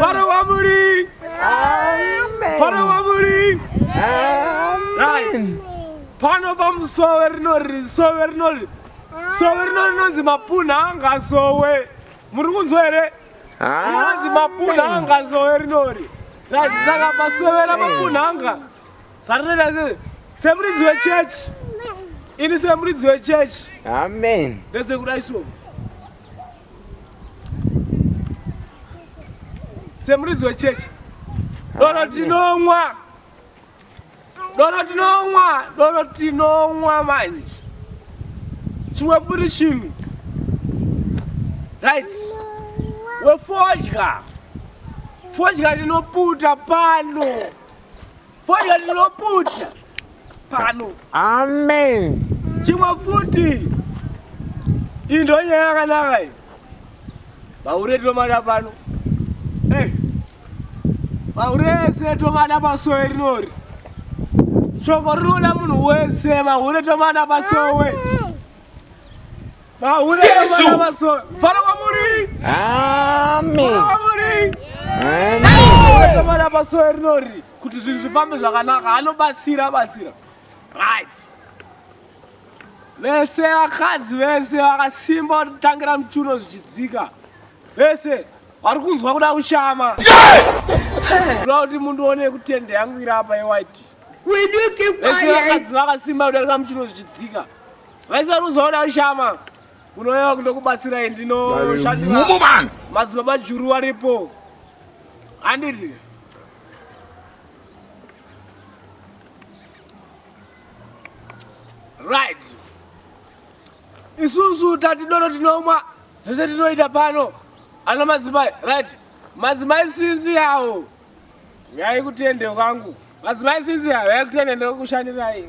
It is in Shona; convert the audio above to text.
Faro wamuri. Amen. Faro wamuri. Amen. Right. Pano pamusowe rinori sowe rinori sowe rinori rinonzi mapuna angasowe. Muri kunzwa here? Rinonzi mapuna angasowe rinori. Right. Saka pasowe ramapuna anga. zvatonena se semuridzi wechechi ini semuridzi wechechi amen ndese kudai so semuridzi wechechi doro tinomwa doro tinomwa doro tinomwa manje chimwe puri chinhu right wefodya fodya ndinoputa pano Fodya ndinoputya pano. Amen. Chimwe futi. Indo nyaya yakanaka iyi. Vahure tinomada pano. Eh. Vahure ese tomada pasowe rinori. Shoko rinoda munhu wese, vahure tomada pasowe. Amen. Jesu! Fara kwamuri! Amen! Fara kwamuri! Amen! Tomara pasoe rinori kuti zvinhu zvifambe zvakanaka anobatsira batsira. Right. Vese vakadzi vese vakasimba vanotangira muchuno zvichidzika. Vese vari kunzwa kuda kushama. Kuda kuti mundu one kutende yangu iri apa yewhite. Vese vakadzi vakasimba kudarika muchuno zvichidzika. Vaisaruzaona ashama kunoyeva kunokubatsirai ndinoshandira madzibaba juru waripo handiti right isusu tati doro tinomwa zvese tinoita pano ana madzimai right madzimai sinzi yawo yaikutende kwangu madzimai sinzi yawo yaikutende ndokushandirai